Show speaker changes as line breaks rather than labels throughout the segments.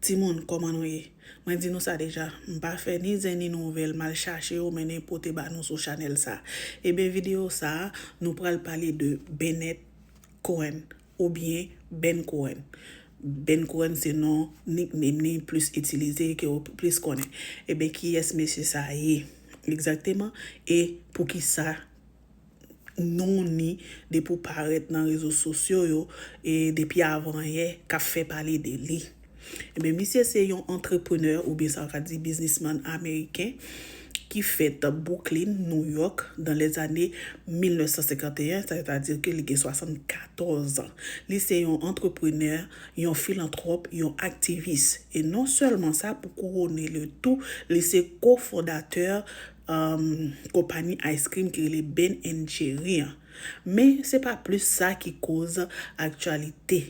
Timoun kòman nou ye? Mwen di nou sa deja, m pa fè ni zen ni nouvèl, m al chache yo mennen pote ba nou sou chanèl sa. Eben videyo sa, nou pral pale de Bennett Cohen oubyen Ben Cohen. Ben Cohen se non nickname li plis itilize, ke ou plis konnen. Eben kiyès mesye sa ye egzakteman e poukisa? non ni depi w parèt nan rezo sosyo yo e depi avanyè k ap fè pale de li. Enben misye se yon antreprenè oubyen sa w ka di biznisman ameriken ki fèt Bwouklin, Nouyòk dan lèzane 1951, sè ta di ke li gen 74 an. Li se yon antreprenè, yon filantwòp, yon aktivis. E non sèlman sa, pou kouwone le tou, li se ko-fondatè konpani ice cream ki rele Ben and Jerry an. Men se pa plis sa ki koz aktyalite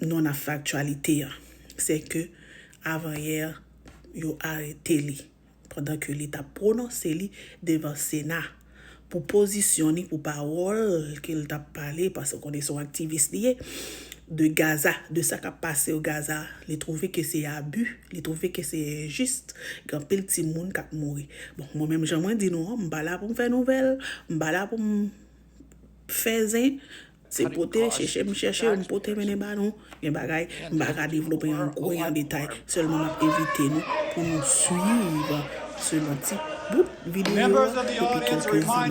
non ap fè aktyalite an. Se ke avan yè yo arete li pandan ke li tap pwononse li devan sena. pou pozisyon ni pou pawòl ke l tap pale, paske w konnen se yon aktivis li ye, de Gaza, de sa kap pase o Gaza, li twouve ke se abi, li twouve ke se enjis, gen anpil timoun kap mouri. Bon, mwen menm jan mwen di nou an, m pa la pou m fè nouvèl, m pa la pou m fè zen, Se pote, chèche m chèche yo m pote mennen ba nou, gen bagay m pa ka devlope an gwo e an detay, sèlman m ap envite nou pou nou swiv selon ti
bout videyo a depi kèlke imaj.